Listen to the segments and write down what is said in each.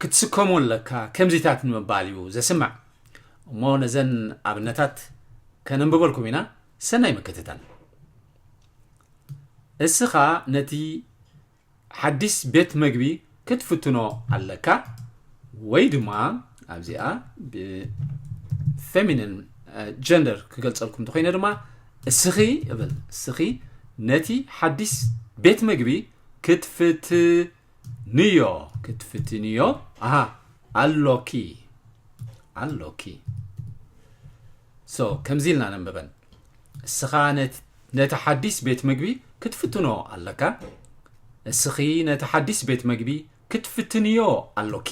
ክትስከሞ ኣለካ ከምዚታት ንምባል እዩ ዘስምዕ እሞ ነዘን ኣብነታት ከነንብበልኩም ኢና ሰናይ ምክትታል እስኻ ነቲ ሓዲስ ቤት መግቢ ክትፍትኖ ኣለካ ወይ ድማ ኣብዚኣ ብፌሚኒን ጀንደር ክገልጸልኩም እንተኮይነ ድማ እስኺ እብል እስኺ ነቲ ሓዲስ ቤት መግቢ ክትፍት ንዮ ክትፍትንዮ ኣሃ ኣሎኪ ኣሎኪ ሶ ከምዚ ኢልና ነንብበን እስኻ ነቲ ሓዲስ ቤት ምግቢ ክትፍትኖ ኣለካ እስኺ ነቲ ሓዲስ ቤት ምግቢ ክትፍትንዮ ኣሎኪ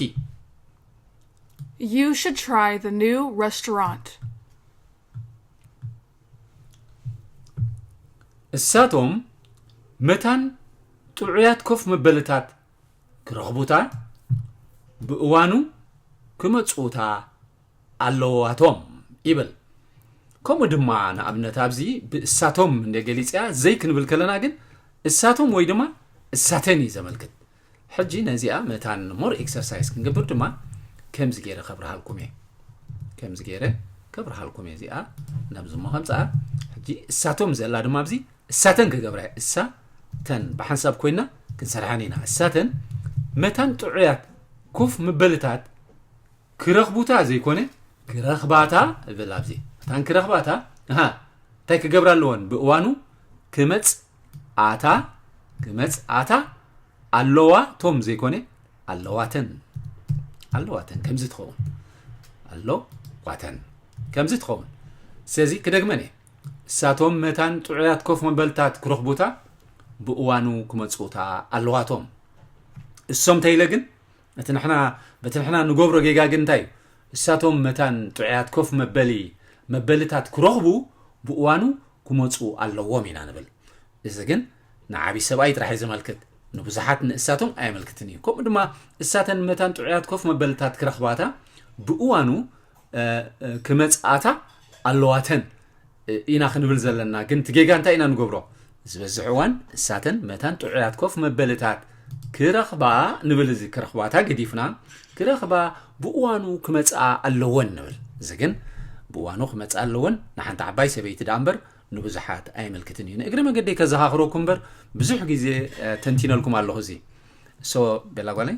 You should try the new restaurant. እሳቶም መታን ጥዑያት ኮፍ መበልታት ክረኽቡታ ብእዋኑ ክመጽኡታ ኣለዋቶም ይብል ከምኡ ድማ ንኣብነት ኣብዚ ብእሳቶም እንደ ገሊፅያ ዘይክንብል ከለና ግን እሳቶም ወይ ድማ እሳተን እዩ ዘመልክት ሕጂ ነዚኣ መታን more exercise ክንገብር ድማ ከምዚ ጌረ ከብርሃልኩም እየ ከምዚ ጌረ ከብርሃልኩም እየ እዚኣ ናብዚ እሞ ከምጽኣ ሕጂ እሳቶም ዘላ ድማ ኣብዚ እሳተን ክገብራ እየ እሳተን ብሓንሳብ ኮይና ክንሰርሓን ኢና እሳተን መታን ጥዑያት ኮፍ ምበልታት ክረኽቡታ ዘይኮነ ክረኽባታ እብል ኣብዚ መታን ክረኽባታ እንታይ ክገብራ ኣለወን ብእዋኑ ክመጽ ኣታ ክመጽ ኣታ ኣለዋ ቶም ዘይኮነ ኣለዋተን ኣለዋተን ከምዚ ትኸውን ኣለዋተን ከምዚ ትኸውን ስለዚ ክደግመን እየ እሳቶም መታን ጥዑያት ኮፍ መበልታት ክረኽቡታ ብእዋኑ ክመፁታ ኣለዋቶም እሶም ተይለ ግን እቲ ንሕና በቲ ንሕና ንገብሮ ጌጋ ግን እንታይ እዩ እሳቶም መታን ጥዑያት ኮፍ መበሊ መበልታት ክረኽቡ ብእዋኑ ክመፁ ኣለዎም ኢና ንብል እዚ ግን ንዓብይ ሰብኣይ ጥራሕ እዩ ዘመልክት ንብዙሓት ንእሳቶም ኣየመልክትን እዩ ከምኡ ድማ እሳተን መታን ጥዑያት ኮፍ መበልታት ክረኽባታ ብእዋኑ ክመፅኣታ ኣለዋተን ኢና ክንብል ዘለና ግን እቲ ጌጋ እንታይ ኢና ንገብሮ ዝበዝሕ እዋን እሳተን መታን ጥዑያት ኮፍ መበልታት ክረኽባ ንብል እዚ ክረኽባታ ገዲፍና ክረኽባ ብእዋኑ ክመፅኣ ኣለወን ንብል እዚ ግን ብእዋኑ ክመፅኣ ኣለወን ንሓንቲ ዓባይ ሰበይቲ ዳኣ እምበር ንብዙሓት ኣይምልክትን እዩ ንእግሪ መገዲ ከዘኻኽረኩ እምበር ብዙሕ ግዜ ተንቲነልኩም ኣለኹ እዚ ሶ ቤላ ጓለይ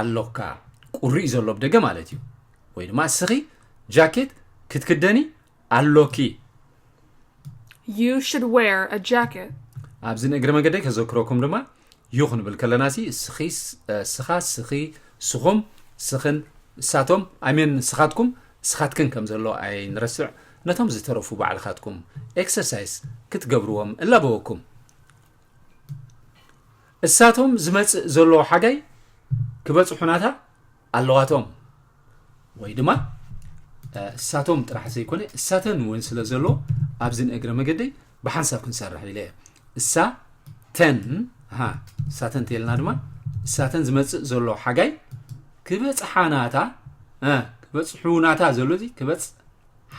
ኣሎካ ቁሪ'ዩ ዘሎ ብ ደገ ማለት እዩ ወይ ድማ እስኺ ጃኬት ክትክደኒ ኣሎኪ። You should wear a jacket. ኣብዚ ንእግሪ መገደይ ከዘክረኩም ድማ ዩ ክንብል ከለና ሲ እስኺ እስኻ እስኺ እስኹም እስኽን እሳቶም ኣይሜን እስኻትኩም እስኻትክን ከም ዘሎ ኣይንረስዕ ነቶም ዝተረፉ ባዕልኻትኩም ኤክሰርሳይስ ክትገብርዎም እላበወኩም እሳቶም ዝመፅእ ዘለዎ ሓጋይ ክበፅሑናታ ኣለዋቶም ወይ ድማ እሳቶም ጥራሕ ዘይኮነ እሳተን እውን ስለ ዘሎ ኣብዚ ንእግረ መገደይ ብሓንሳብ ክንሰርሕ ኢለ እየ እሳተን እሳተን ተልና ድማ እሳተን ዝመፅእ ዘሎ ሓጋይ ክበፅሓናታ ክበፅሑናታ ዘሎ እዚ ክበፅ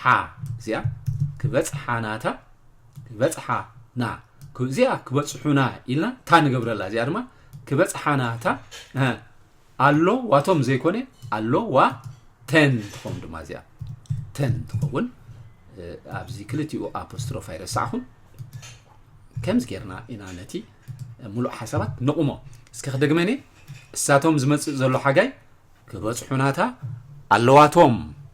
ሓ እዚኣ ክበጽሓ ናታ ክበጽሓ ና እዚኣ ክበጽሑና ኢልና እታ ንገብረላ እዚኣ ድማ ክበጽሓ ናታ ኣሎ ዋቶም ዘይኮነ ኣሎ ዋ ተን ትኸውን ድማ እዚኣ ተን ትኸውን ኣብዚ ክልቲኡ ኣፖስትሮፍ ኣይረሳዕኹም ከምዚ ጌርና ኢና ነቲ ሙሉእ ሓሳባት ንቑሞ እስከ ክደግመን እሳቶም ዝመፅእ ዘሎ ሓጋይ ክበፅሑናታ ኣለዋቶም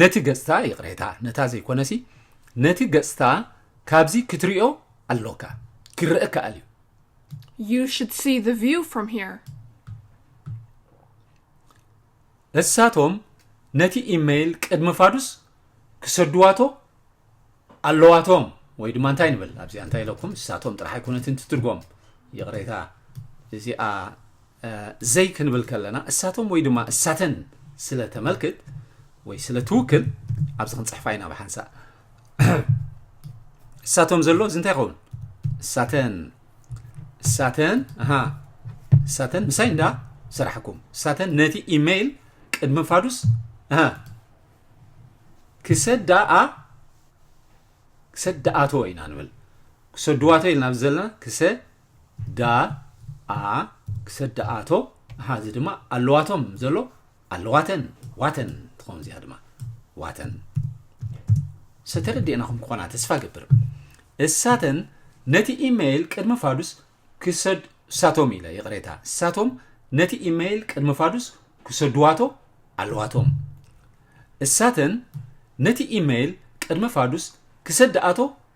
ነቲ ገጽታ ይቕሬታ ነታ ዘይኮነሲ ነቲ ገጽታ ካብዚ ክትሪኦ ኣሎካ ክረእ ከኣል እዩ You should see the view from here. እሳቶም ነቲ ኢመይል ቅድሚ ፋዱስ ክሰድዋቶ ኣለዋቶም ወይ ድማ እንታይ ንብል ኣብዚኣ እንታይ ኢለኩም እሳቶም ጥራሕ ኣይኮነትን ትትርጎም ይቕሬታ እዚኣ ዘይ ክንብል ከለና እሳቶም ወይ ድማ እሳተን ስለ ተመልክት ወይ ስለ ትውክል ኣብዚ ክንጽሕፋ ኢና ብሓንሳእ እሳቶም ዘሎ እዚ እንታይ ይኸውን እሳተን እሳተን ኣሃ እሳተን ምሳይ እንዳ ስራሕኩም እሳተን ነቲ ኢሜይል ቅድሚ ፋዱስ ኣሃ ክሰዳኣ ክሰዳኣቶ ኢና ንብል ክሰድዋቶ ኢልና ዘለና ክሰ ዳ ኣ ክሰደኣቶ ኣሃ እዚ ድማ ኣለዋቶም ዘሎ ኣለዋተን ዋተን ትኸውን እዚኣ ድማ ዋተን ሰተረዲእናኹም ክኾና ተስፋ ገብር እሳተን ነቲ ኢመይል ቅድሚ ፋዱስ ክሰድ እሳቶም ኢለ ይቕሬታ እሳቶም ነቲ ኢመይል ቅድሚ ፋዱስ ክሰድዋቶ ኣለዋቶም እሳተን ነቲ ኢመይል ቅድሚ ፋዱስ ክሰድኣቶ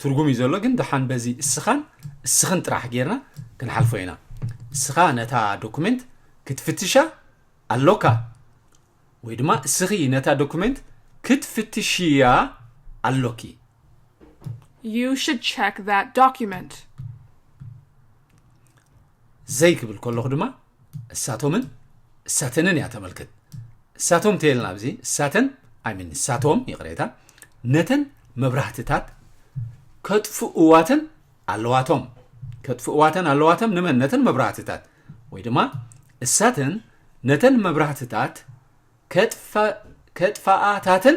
ትርጉም እዩ ዘሎ ግን ደሓን በዚ እስኻን እስኽን ጥራሕ ጌርና ክንሓልፎ ኢና እስኻ ነታ ዶኩሜንት ክትፍትሻ ኣሎካ ወይ ድማ እስኺ ነታ ዶኩሜንት ክትፍትሽያ ኣሎኪ You should check that document. ዘይ ክብል ከለኹ ድማ እሳቶምን እሳተንን እያ ተመልክት እሳቶም ተየልና ኣብዚ እሳተን ኣይሚን እሳቶም ይቕሬታ ነተን መብራህትታት ከጥፍእዋተን ኣለዋቶም ከጥፍእዋተን ኣለዋቶም ንመን ነተን መብራህትታት ወይ ድማ እሳተን ነተን መብራህትታት ከጥፋኣታተን